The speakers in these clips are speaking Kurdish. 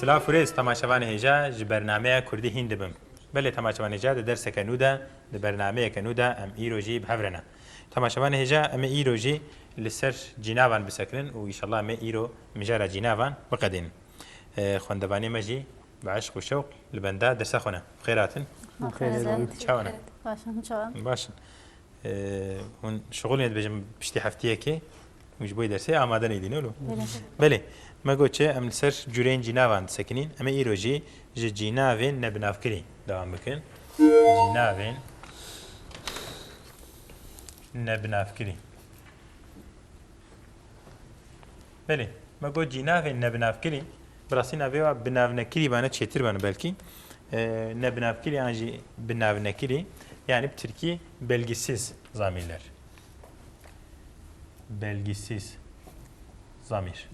Silav û rêz temaşevanê hêja ji bernameya Kurdî hîn dibim. Belê temaşevanê hêja di derseke nû de, di bernameyeke nû de em îro jî bi hev re ne. Temaşevanê hêja em ê îro jî li ser cînavan bisekirin û îşallah em ê îro mijara cînavan biqedînin. Xwendevanê me jî bi eşq û şewq li benda dersa xwe ne. Bixêr hatin. Bixêr hatin. Çawa ne? Baş in. Baş in. Hûn şixulên dibêjin piştî hefteyekê. Hûn ji bo yê dersê amade neyî dîno lo. Belê. Me got çi em li ser cûreyên cînavan disekinîn. Em ê îro jî ji cînavên nebinavkirî dewam bikin. Cînavên nebinavkirî. Belê. Me got cînavên nebinavkirî bi rastî navê wa binavnekirî bane çêtir bane belkî. Nebinavkirî yan jî binavnekirî yanî bi tirkî belgîsiz zamîrler. belgîsîz zamîr.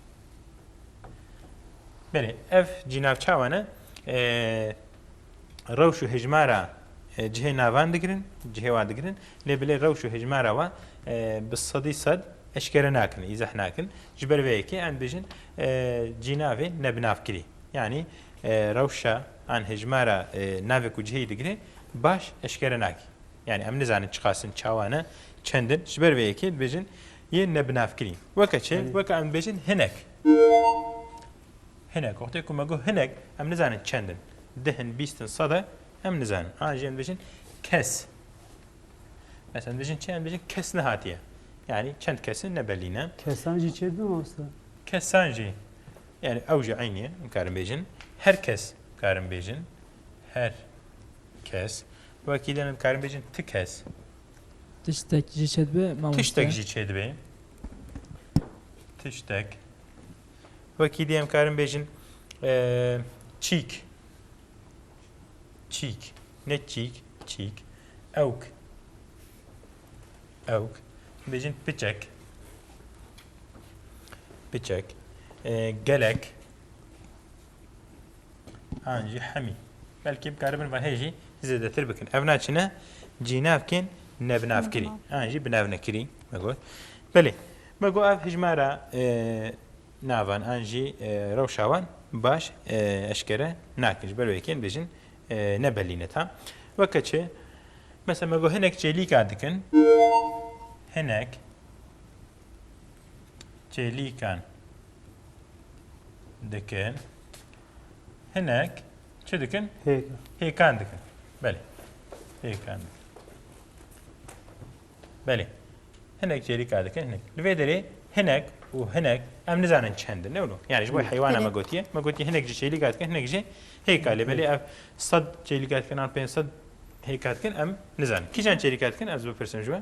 Belê, ev cînavçawan e rewş û hijmara cihê navan digirin, cihê wan digirin, lê bilê rewş û hijmara wan bi sedî sed eşkere nakin, îzeh nakin. Ji ber vê yekê em dibêjin cînavê nebinavkirî. Yanî rewşa an hijmara navê ku cihê digirê baş eşkere nake. Yani em nizanin çiqas in çawa ne çend in ji ber vê yekê dibêjin yên nebinavkirî. Weke çi? Weke em dibêjin hinek. Hinek. Wextê ku me got hinek em nizanin çend in. Dih in, bîst in, sed e em nizanin. An jî em dibêjin kes. Mesela em dibêjin çi? Em dibêjin kes nehatiye. Yani çend kesin ne belî ne. Kesan jî çêdin mamosta? Kesan jî. Yani ew jî eyniye. Em karin bêjin. Her kes karin bêjin. Her kes. Wekî lê me dikarin bêjin ti kes. Tiştek jî çêdibe mamoste. Tiştek jî çêdibe. Tiştek. Wekî dê em karin bêjin çîk. Çîk. Ne çîk, çîk. Ewk. Ewk. Bêjin piçek. Piçek. Gelek. An jî hemî. Belkî bikaribin vahê jî zêdetir bikin. Ev na çine cînavkên nebinavkirî. An jî binavnekirî me got. Belê. Me got ev hijmara navan an jî rewşa wan baş eşkere nakin. Ji ber wê yekên dibêjin nebelîne ta. Weke çi? Mesela me got hinek çêlîka dikin. Hinek çêlîkan dikin. Hinek çi dikin? Hêkan. Hêkan dikin. Belê. Hêkan dikin. Belê. Hinek çêlîka dikin hinek. Li vê derê hinek û hinek em nizanin çend in. Newlo. Yani ji bo heywana me gotiye. Me gotiye hinek ji çêlîka dikin hinek jî hêka. Lê belê ev sed çêlîka dikin an pênc sed hêka dikin em nizanin. Kîjan çêlîka dikin ez bipirsim ji we.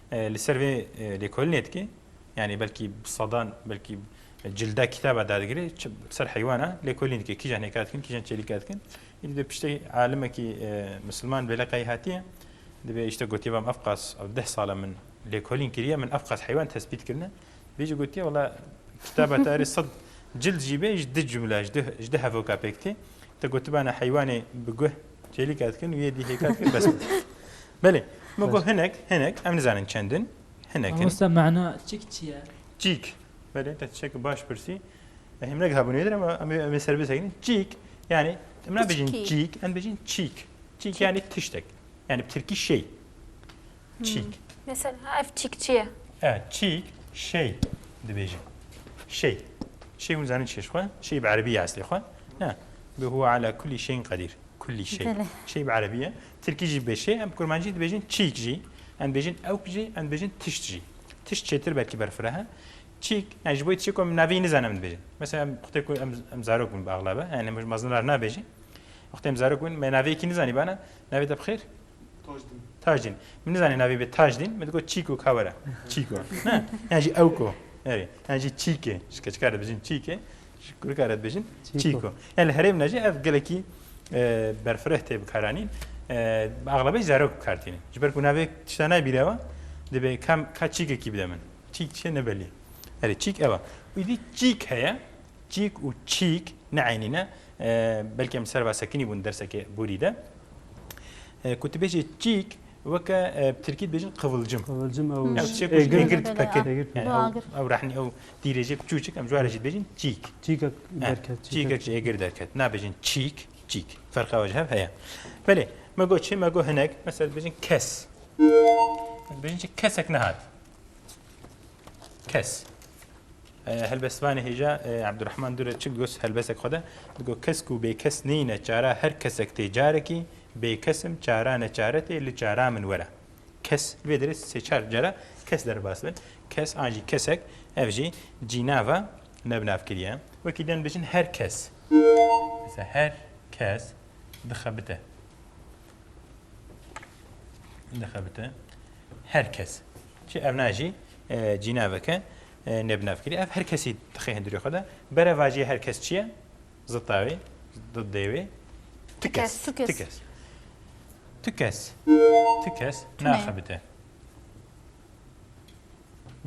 Li ser vê lêkolinê dike yanî belkî bi sedan belkî cilda kitaba dadigirê bi ser heywana lêkolîn dike kîjan hêka dikin kîjan çêlîka dikin îdî dê piştê alimekî misilman bê leqeyî hatiye dibê îşte gotiye vam efqas ew deh sala min lêkolîn kiriye min efqas heywan tespît kirine bê jî gotiye wala kitaba te erê sed cild jî bê ji di cumla ji di hevoka pêk tê te gotibana heywanê bi guh Çêlî ket kin wiyê dîhê ket kin bes. Belê me got hinek hinek em nizanin çendin hinek. Wasta mana çik çi ye? Çîk belê te çek baş pirsî. Hem ne gabun yedir ama em em serbest ekin. Çîk yani em ne bejin çîk em bejin çîk. Çîk yani tiştek. Yani Türkî şey. Çîk. Mesela ev çîk çi ye? E, çîk şey dibêjin. Şey. Şey hûn zanîn çiş xwe? Şey bi erebî ye eslê xwe? Ne. Bi huwa ala kulî şeyin qedîr. Kulî şey. Belê. Şey bi erebî ye. Tirkî jî bê şey, em bi kurmancî dibêjin çîk jî. Em dibêjin ewk jî, em dibêjin tişt jî. Tişt çêtir belkî berfireh e. Çîk, yani ji bo yê tiştê ku em navê yê nizanin em dibêjin. Mesela em wextê ku em em zarok bûn bi exlabe, yani em ji mezin re nabêjin. Wextê em zarok bûn me navê yekî nizanîbane, navê te bi xêr? Tajdîn. Tajdîn. Min nizanî navê bê Tajdîn, min digot Çîko ka were. Çîko. Ne. Yan jî ewko. Erê. Yan jî Çîkê. Ji keçika re dibêjin Çîkê. Ji kurika re dibêjin Çîko. Yan li herêm de jî ev gelekî berfireh tê bikaranîn. Axlabê zarok bikar tînin. Ji ber ku navê tişta nayê bîrewa dibê kam ka çîkekî bide min. Çîk çi ye nebelî. Erê çîk ev e. Îdî çîk heye. Çîk û çîk ne eynî ne. Belkî em li ser ve sekinî bûn derseke borî de. Ku tu bêjî çîk weke bi tirkî dibêjin qivulcim. Qivulcim ew gird peke. Ew rehnî ew tîrêjê çûçik em ji were jî dibêjin çîk. Çîkek derket. Çîkek ji êgir derket. Nabêjin çîk çîk. Ferqa ew ji hev heye. Belê me got çi me got hinek mesela dibêjin kes. Dibêjin çi kesek nehat. kes. Helbestvanê hêja Ebdurehman Dure çi got helbesek xwe de digot kesk û bêkes neyîne çara her kesek tê carekî bêkesim çara neçare tê li çara min were. Kes vê derê sê çar cara kes derbas be. Kes an jî kesek ev jî cînava nebnavkiriye. Wekî din bijin her kes. Her kes dixebite. dixebite her kes çi ev ne jî e, cîneveke e, nebnevkirî ev her kesî dixê hundirê xwe de berevajiyê her kes çi ye zita wê didê wê ti kes tu kes tu kes tu kes naxebite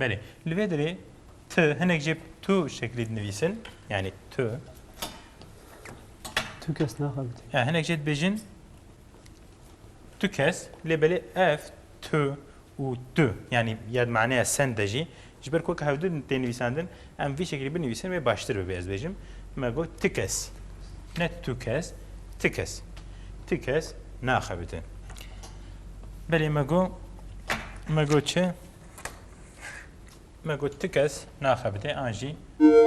Belê. Li vê derê tu hinek jê tu şeklî dinivîsin. Yani tu. Tu kes naxebitî. Ya hinek jê dibêjin tu kes lê belê ev tu û tu yani yad maneya sen de jî ji ber ku hevdu tên nivîsandin Em vî şekilî binivîsin wê baştir bibe ez bêjim me got ti kes ne tu kes ti kes ti kes naxebitin belê me got me got çi me got ti kes naxebitê an jî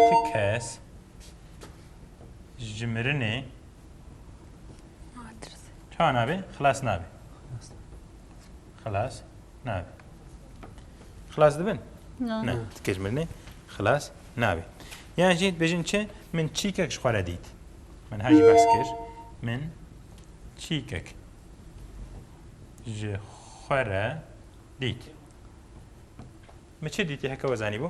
ti kes ji mirinê çawa nabe xilas nabe Xilas nabe. Xilas dibin? Na. Ne, dikej mirinê xilas nabe. Yan jî dibêjin çi? Min çîkek ji xwe re dît. Min her jî behs kir. Min çîkek ji xwe re dît. Mi çi dîtî heke we zanîbû?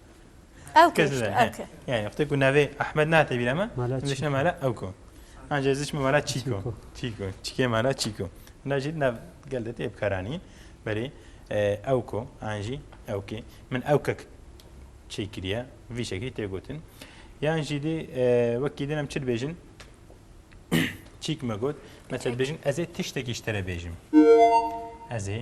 Evke işte, evke. Yani işte ku navê Ahmed ne hate bîra me, vişne mala evko. Ancak ziş mi mala çîko. Çîko. Çîkê mala çîko. Hina jî nav gel de tê bikaranîn. Berê evko, anjî evkê. Min evkek çê kiriye, vî şekî tê gotin. Yan jî dî wekî din em çi dibêjin? Çîk me got. Mesela dibêjin ez ê tiştekî ji te re bêjim. Ez ê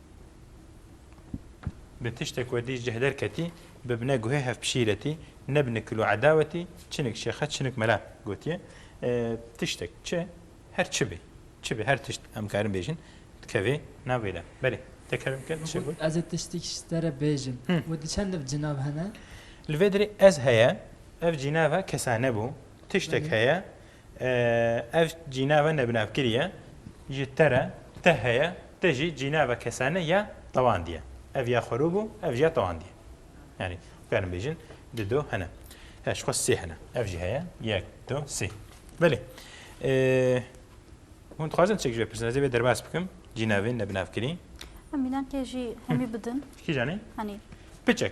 Bi tiştê ku dî cih derketî, bibne guhê hevpişîretî, nebine kil û edawetî, çinik şêxe, çinik mela gotiye. Tiştek çi, her çi bê, çi bê, her tişt em karin bêjin, dikevê navê de. Belê, tekrar bike, tu çi got? Ez ê tiştek ji te re bêjim. Wê di çend ev cinav hene? Li vê derê ez heye, ev cinav e kesane bû, tiştek heye, Ev cînava nebinavkirî ye, ji te re, te heye, te jî cînava kesane ya tewandî ye. Ev ya xwerû bû, ev jî ya tewandî ye. Yanî bikarin bêjin di do hene. He ji xwe sê hene. Ev jî heye yek, du, sê. Belê. Hûn dixwazin çek ji vê pirsin. Ez ê vê derbas bikim. Cînavên nebinavkirî. Em mînankê jî hemî bidin. Kîjan e? Hanî. Piçek.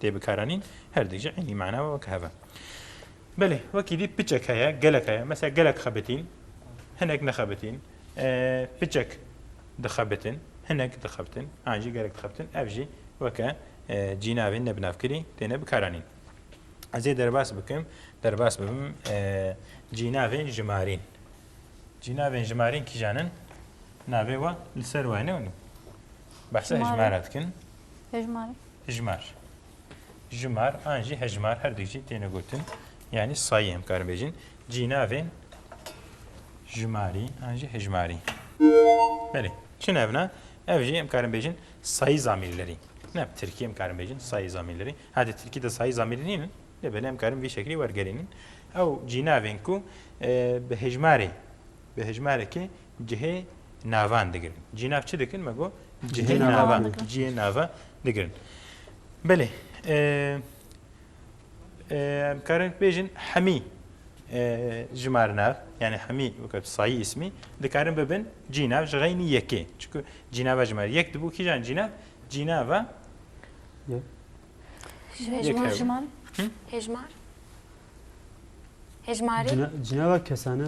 Tê bikaranîn her dî jî eynî mana weke hebe. Belê wekî dî piçek heye gelek heye mesela gelek xebitîn hinek nexebitîn piçek dixebitin hinek dixebitin an jî gelek dixebitin ev jî weke cînavê ne binavkirî têne bikaranîn. Ez ê derbas bikim derbas bibim cînavên jimarîn. Cînavên jimarîn kîjan in navê we li ser wayne bahsa hejmara dikin. Hejmara. Hijmar. Jimar an jî hejmar her du jî têne gotin. Yanî sayî em karin bêjin. Cînavên jimarî an jî hijmarî. Belê. Çi nevna? Ev jî em karin bêjin sayî zamîrlerî. Ne bi tirkî em karin bêjin sayî zamîrlerî. Hadi tirkî de sayî zamîrî nînin. Lê belê em karin vî şeklî wergerînin. Ew cînavên ku bi hijmarê bi hijmarekê Cihê navan digirin. Cihê nav çi dikin? Me got cihê navan. Cihê nava digirin. Belê. Em karin bêjin hemî jimar nav yani hemî wekî sayî ismî dikarin bibin cînav ji xeynî yekê. Çiku cînava jimar yek dibû kîjan cînav cînava Hejmar jimar. Hejmar. Hejmarê. Cînava kesane.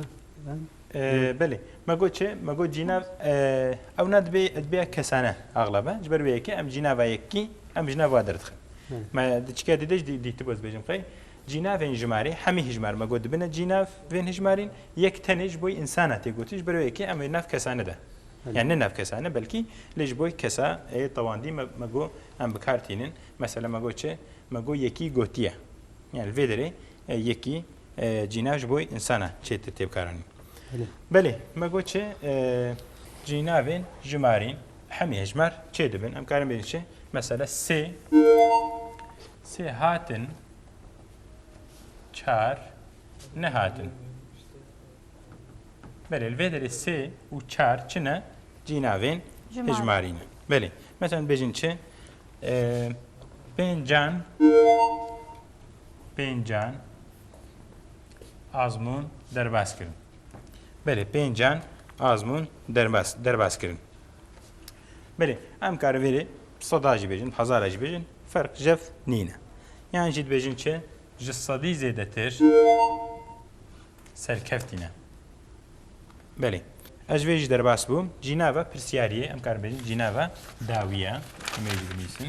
Belê, me got çi? Me got cînav ewna dibê edbeya kesane axlaba. Ji ber wê yekê em cînava yekî em ji nav wa derdixin. Me di çikiya dîdê jî dîtibû ez bêjim qey cînavên jimarî hemî hijmar me got dibine cînav vên hijmarîn yek tenê ji bo însana tê gotin ji ber wê yekê em wê nav kesane de yani ne nav kesane belkî lê ji bo kesa ê tewandî me got em bi kar tînin. Mesela me got çi? Me got yekî gotiye. Yani li vê derê Yekî cîna ji bo însan e çê te têbkaranî. Belê me got çi cînavên jimarîn hemî hejmar çê dibin em karin bêjin çi mesela sê sê hatin çar nehatin. Belê li vê derê sê û çar çi ne cînavên hejmarî ne. Belê me sen bêjin çi pêncan pêncan azmûn derbas kirin. Belê pêncan azmûn derbas derbas kirin. Belê em karê vêrê seda jî bêjin, hezara jî bêjin, ferq jev nîne. Yan jî dibêjin çi ji sedî zêdetir serkeftîne. Belê. Ez vê jî derbas bûm. Cînava pirsiyariyê em karin bêjin cînava dawiye. Em ê jî binîsin.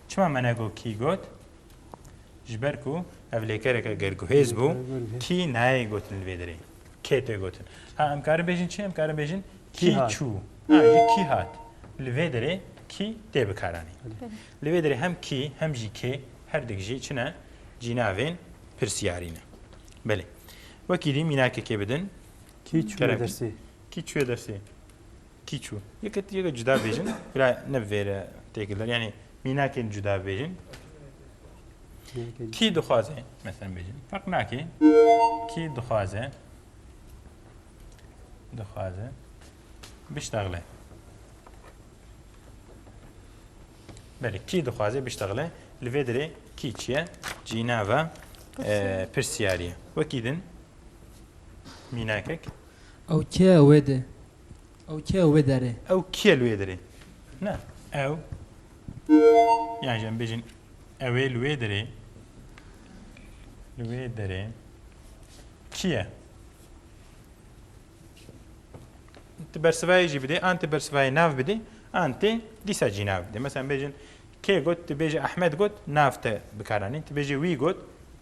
Çima me negot kî got? Ji ber ku ev lêkereke ger guhêz bû, kî nayê gotin li vê derê. Kê tê gotin. Ha em karin bêjin çi? Em karin bêjin kî çû. Ha jî kî hat. Li vê derê kî tê bikaranî. Li vê derê hem kî hem jî kê herdik jî çi ne? Cînavên pirsiyarî ne. Belê. Wekî dî mînakekê bidin. Kî çûye dersê? Kî çûye dersê? Kî çû? Yekê tu yekê cuda bêjin, bila ne vêre têkildar yanî mînakên cuda bêjin. Kî dixwaze mesela bêjin. Ferq nakê. Kî dixwaze dixwaze biştaxile. Belê, kî dixwaze biştaxile. Li vê derê kî çi ye? Cînava pirsiyarî ye. Wekî din mînakek. Ew kê ye wê de? Ew kê li wê derê? Ew kê li wê derê? Na, ew yan jî em bêjin ew ê li wê derê. Li wê derê kî ye? Ti bersivayê jî bidê, an ti bersivayê nav bidê, an tê dîsa jî nav bidê. Mesela em bêjin kê got, tu bêjî Ehmed got, nav te bikaranîn. Tu bêjî wî got,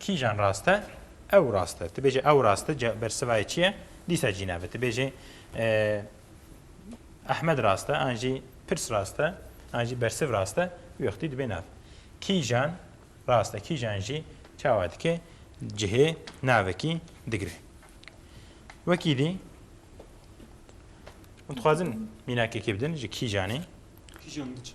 Kîjan rast e? Ew rast e. Tu bêjê ew rast e, bersivayê çi ye? Dîsa cî navê. Tu bêjê Ehmed rast e, an jî pirs rast e, an jî bersiv rast e, wî wextî dibê nav. Kîjan rast e, kîjan jî çawa dike cihê navekî digire. Wekî dî Em dixwazin mînakekê bidin ji kîjanê. Kîjan diçe?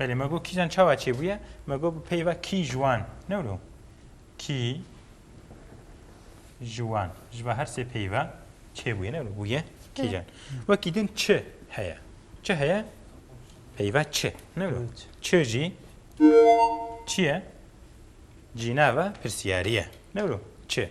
Belê me got kîjan çawa çêbûye? Me got bi peyva kî ji wan. Ne wilo? Kî ji wan. Ji ba her sê peyva çêbûye ne wilo bûye kîjan. Wekî din çi heye? Çi heye? Peyva çi. Ne wilo? Çi jî çi ye? Cînava pirsiyariye. Ne wilo? Çi.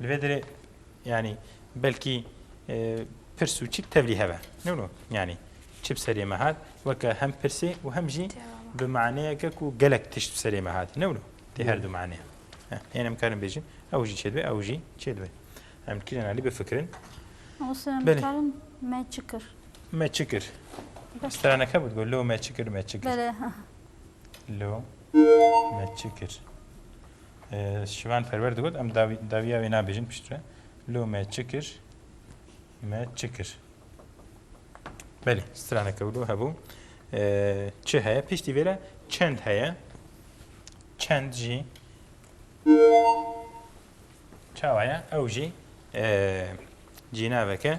Li vê derê yanî belkî pirs û çi tevlî heve. Newno yanî çi bi serê me hat weke hem pirsê û hem jî bi maneyeke ku gelek tişt bi serê me hat. Newno tê her du maneya. Hên em karin bêjin ew jî çêdibê ew jî çêdibê. Em kirên alî bifikirin. Karin me çi kir? Me çi kir? Straneke bû digot lo me çi kir me çi kir. Lo me çi kir. Şivan Perwer digot em dawiya wê nabêjin piştre. Lo me çi kir? Me çi kir? Belê, straneke wilo hebû. Çi heye? Piştî vê re çend heye? Çend jî çawa ye? Ew jî cînaveke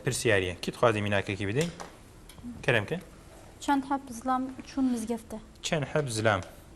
pirsiyariye. Kî dixwazî mînakekî bidê? Kerem ke? Çend heb zilam çûn mizgefte? Çend heb zilam?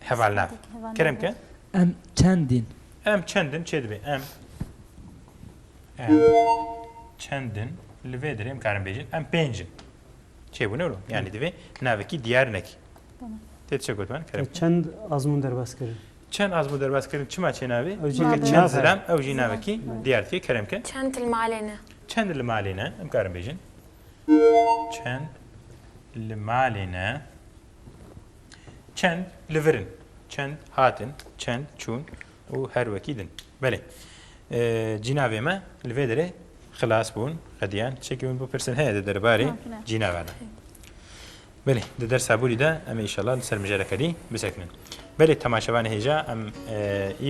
Hevalnev. Kerem ke? Em çendin. Em çendin çê dibê. Em em çendin li vê dirê em karin bêjin. Em pêncin. Çê bûne ro. Yani divê navekî diyar nekî. Tê çe got ben Kerem? Çend azmûn derbas kirin. Çend azmûn derbas kirin çima çê navê? Ew jî Çend nav ziram ew jî navekî diyar tê Kerem ke? Çend li malê ne. Çend li malê ne em karin bêjin. Çend li malê ne. Çend li vir in, çend hatin, çend çûn û her wekî din. Belê. Cînavê me li vê derê xilas bûn, qediyan. Tişekî min bipirsin heye di derbarê cînava de. Belê, di dersa bûrî de em ê îşallah li ser mijareke dî bisekinin. Belê temaşevan hêja em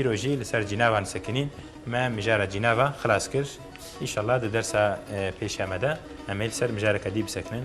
îro jî li ser cînavan sekinîn. Me mijara cînava xilas kir. Îşallah di dersa pêşiya me de em ê li ser mijareke dî bisekinin.